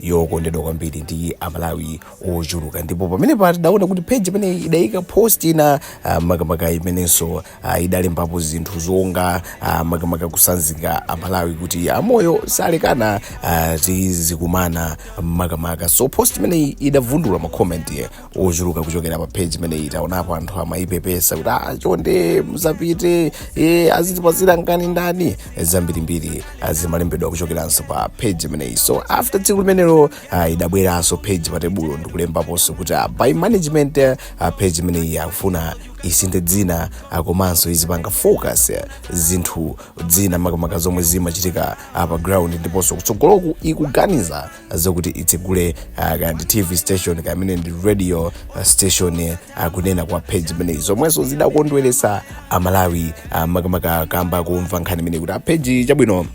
yokondedwa kwambiri ndi amalawi ochuluka ndipo pamenepa tidaona kuti page imene idayika post ina ah, makamaka imenenso ah, idalembapo zinthu zonga ah, makamaka kutsanzika amalawi kuti amoyo salekana ah, tidzakumana makamaka so post imeneyi idavundula makomenti ochuluka kuchokera pa page imeneyi taonapo anthu amayipepesa kuti ah, chonde musapite e, azitipatsira nkhani ndani zambirimbiri zimalembedwa kuchokeranso pa page imeneyi so after tsiku limenelo ah, idabweranso page pa tebulo ndikulembaponso kuti ah, by management ah, page imeneyi akufuna isinthe dzina ah, komanso izipanga focus eh, zinthu zina makamaka zomwe zimachitika ah, pa ground ndiponso kutsogoloku ikuganiza zokuti itsegule ah, kaya ndi tv station kapena ndi radio ah, station eh, kunena kwa page imeneyi zomwenso zidakondweresa amalawi ah, makamaka kamba komva nkhani imeneyi kuti a peji chabwino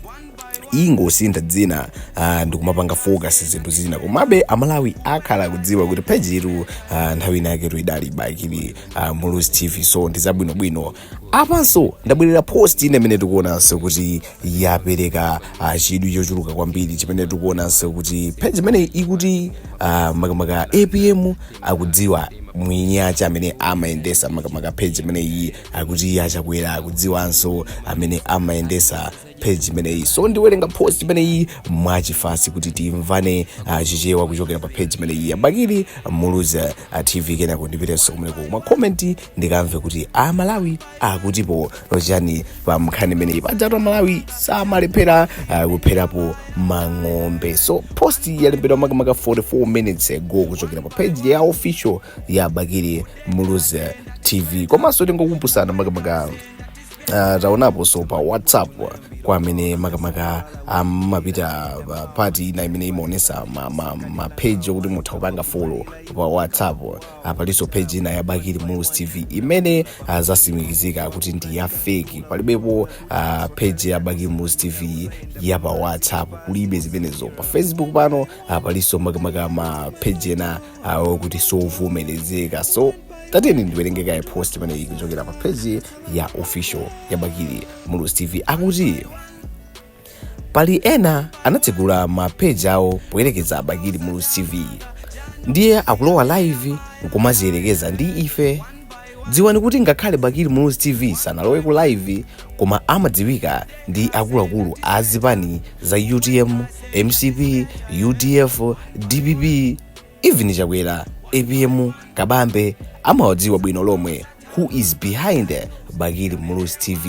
ingosintha dzina uh, ndikumapanga focus zinthu zina komabe amalawi akhala akudziwa kuti page iyi uh, nthawi inayake idali bakili uh, muluzi tv so ndi zabwinobwino apanso ndabwerera post ina imene tikuonanso kuti yapereka ah, chidwi chochuluka kwambiri chimene tikuonanso kuti page imene ikuti ah, makamaka apm akudziwa mwini wake amene amayendesa makamaka page imene iyi akuti a chakwera akudziwanso amene amayendesa page imeneyi so ndiwerenga post imeneyi mwachifasi kuti timvane ah, chichewa kuchokera pa page imeneyi ya bakili muluzi ah, tv kenako ndipitenso kumeneko ku ma komenti ndikamve kuti amalawi akutipo chani pa nkhani imeneyi pajatu amalawi samalephera ah, kupherapo mang'ombe so post yalembedwa makamaka 44 minutes ago kuchokera pa page ya official ya bakili muluzi tv komanso tingokumbusana makamaka uh, taonaponso pa whatsapp kwa amene makamaka amapita um, uh, pati ina imene imaonesa mapeji ma, ma okuti mutha kupanga folo pa whatsapp uh, palinso peji ina ya bakili muluzi tv imene uh, zatsimikizika kuti ndi ya feki palibepo uh, peji ya bakili muluzi tv ya pa whatsapp kulibe zimenezo pa facebook pano uh, palinso makamaka mapeji ena uh, okuti sovomerezeka so tatiyeni ndiwerenge kaye post imeneyi kuchokera pa peji ya official ya bakili muluzi tv akuti pali ena anatsegula mapeji awo poyerekeza bakili muluzi tv ndiye akulowa live nkumadziyerekeza ndi ife dziwani kuti ngakhale bakili muluzi tv sanalowe ku live koma amadziwika ndi akuluakulu a zipani za utm mcp udf dpp even chakwera apm kabambe amawadziwa bwino lomwe who is behind bakili muluzi tv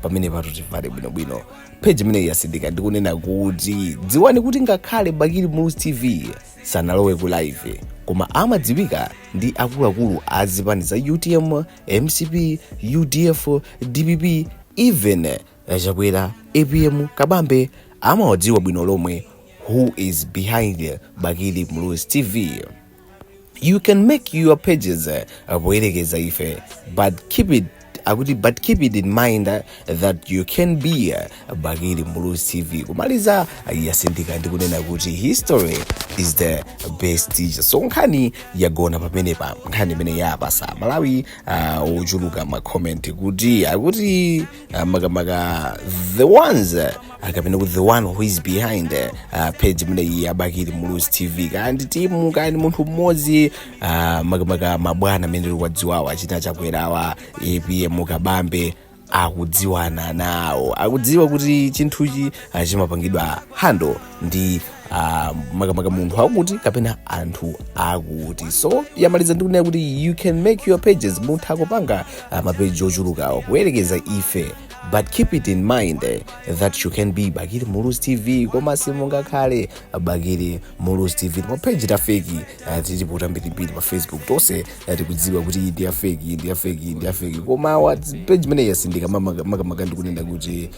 pamenepatu timvane bwinobwino page imeneyi yasindika ndikunena kuti dziwani kuti ngakhale bakili muluzi tv sanalowe ku live koma amadziwika ndi akuluakulu a zipani za utm mcp udf dpp even A Chakwera, apm, Kabambe amawadziwa bwino lomwe who is behind Bakili Muluzi TV. You can make your pages uh, poyerekeza ife but keep it akuti but keep it in mind uh, that you can't be uh, Bakili Muluzi TV. Kumaliza uh, yasindika ndi kunena kuti history is the best teacher. So nkhani yagona pamenepa nkhani imene yapatsa aMalawi uh, ochuluka ma comment kuti akuti uh, makamaka the ones uh, kapena kuti the one who is behind uh, page imeneyi ya bakili muluzi tv kaya ndi timu kaya ndi munthu mmodzi uh, makamaka mabwana amene tikuwadziwawa achina chakwerawa apm kabambe akudziwana nawo akudziwa kuti chinthuchi uh, chimapangidwa hando ndi ah, makamaka munthu wakuti kapena anthu akuti so yamaliza ndi kunena kuti you can make your pages mutha kupanga ah, mapeji ochulukawo poyerekeza ife but keep it in mind eh, that you can't be bakili muluzi tv koma simungakhale bakili muluzi tv mapeji tafeki ah, tilipo tambirimbiri pa facebook tonse ah, tikudziwa kuti iyi ndi afeki iyi ndi afeki iyi ndi afeki koma awa peji imeneyi yasindika makamaka ndikunena kuti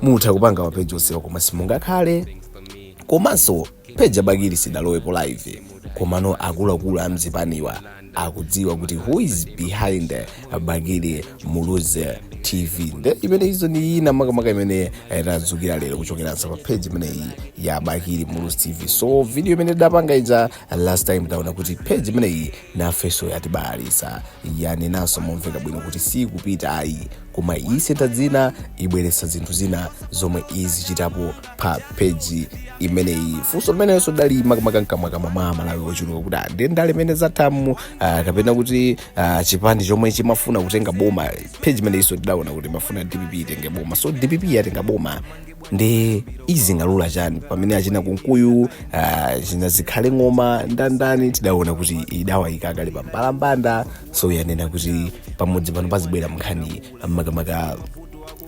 mutha kupanga mapeji onsewa koma simungakhale komanso page ya bakili sidalowepo live komano akuluakulu amzipaniwa akudziwa kuti who is behind bakili muluzi tv nde imene izo ndi zina makamaka imene eh, tadzukira lero kuchokeranso pa page imeneyi ya bakili muluzi tv so video imene tidapanga ija last time taona kuti page imeneyi nafeso yatibalalitsa yanenanso momveka bwino kuti sikupita ayi koma isintha dzina ibweretsa zinthu zina zomwe izichitapo pa peji imeneyi funso limenenso dali makamaka mkamwakamwa mwa amalawi ochuluka kuti ah, ndi ndale imene zathamu ah, kapena kuti ah, chipani chomwe chimafuna kutenga boma peji imeneyinso tidaona kuti imafuna dpp itenge boma so dpp yatenga boma ndiye izingalula chani pamene achina kunkuyu achina zikhale ng'oma ndandani tidaona kuti idawayika kale pambalambanda so yanena kuti pamudzi pano pazibwera nkhani makamaka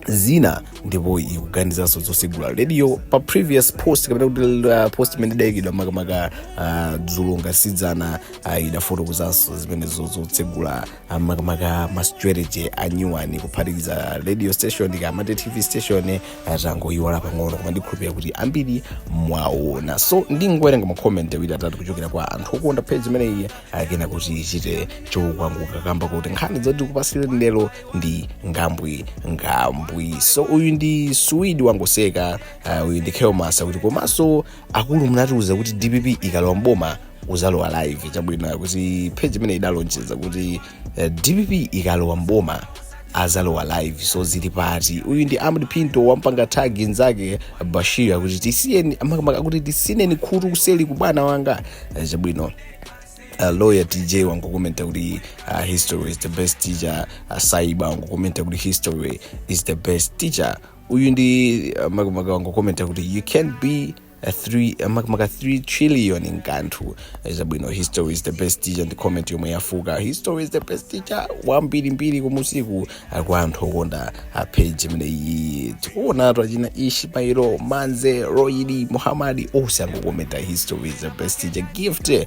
zina ndipo ikuganizanso zosegula radio pa previous post kapena kuti uh, post imene idayikidwa makamaka uh, dzulo ngati si dzana uh, idafotokozanso zimenezo zotsegula uh, makamaka ma strategy anyuwani kuphatikiza radio station kapena tv station uh, tangoiwala pang'ono koma ndikhulupirira kuti ambiri mwaona so ndingowerenga ma comment awiri atatu kuchokera kwa anthu okonda page imeneyi akena kuti ichite chokwanguka kamba kuti nkhani zoti kupasire ndelo ndi ngambwi ngambwi so uyu ndi suwidi wangoseka uh, uyu ndi kelmasa kuti komanso akulu munatiuza kuti dpp ikalowa mboma uzalowa live chabwino kuti page imene idalonjeza kuti uh, dpp ikalowa mboma azalowa live so zili pati uyu ndi amd pinto wampanga tagi nzake bashir akuti tisiyeni makamaka akuti tisineni khutu kuseli kubwana wanga Eh, chabwino Uh, lawyer tj wangokomenta kuti uh, history is the best teacher uh, saiba wangokomenta kuti history is the best teacher uyu ndi uh, makamaka wangokomenta kuti you can be a three- uh, makamaka 3 trillion nkanthu zabwino history is the best teacher ndi comment yomwe yafuka history is the best teacher wambirimbiri kumusiku kwa anthu okonda page imene iyi tikuonatu achina ishi mairo manze roidi Mohammed onse angokomenta history is the best teacher gift eh,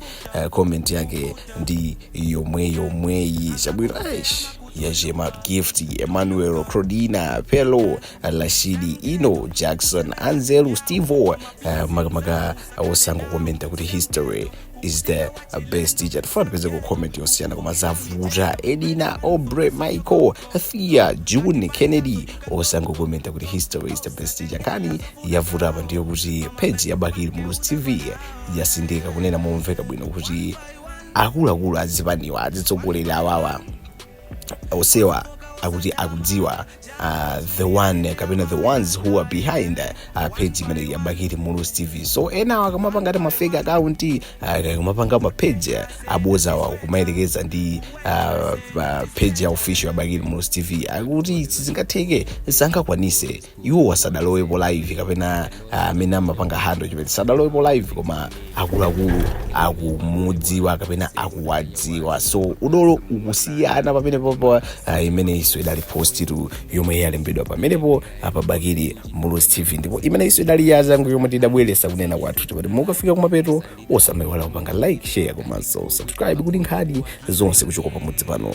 comment yake ndi yomweyomweyi chabwino aish yajema gift emmanuel crodina pelo Rashid ino jackson anzelu stevo eh, makamaka onse angokomenta kuti history is the best teacher tifuna tipeze ku comment yosiyana koma zavuta Edina Aubrey michael thea june kennedy onse angokomenta kuti history is the best teacher nkhani yavuta apa ndiyokuti page ya bakili muluzi tv yatsindika kunena momveka bwino kuti akuluakulu azipaniwa azitsogoleri awawa onsewa akuti akudziwa uh, the one kapena the ones who are behind uh, page imene ya bakili muluzi tv so enawa akamapanga ati ma fake account uh, akamapanga mapage abodzawa kumayerekeza ndi uh, uh, page ya official ya bakili muluzi tv akuti sizingatheke sangakwanise iwo sadalowepo live kapena ah, amene amapanga handle chimene sadalowepo live koma akuluakulu akumudziwa kapena akuwadziwa so udolo ukusiyana pamenepo pa ah, imeneyitu so idali post tu yomwe yalembedwa pamenepo pa bakili muluzi tv ndipo imeneyi so idali yazangu yomwe tidabweretsa kunena kwathu chimene mukafika kumapeto osamayiwala kupanga like share komanso subscribe kuti nkhani zonse kuchoka pamudzi pano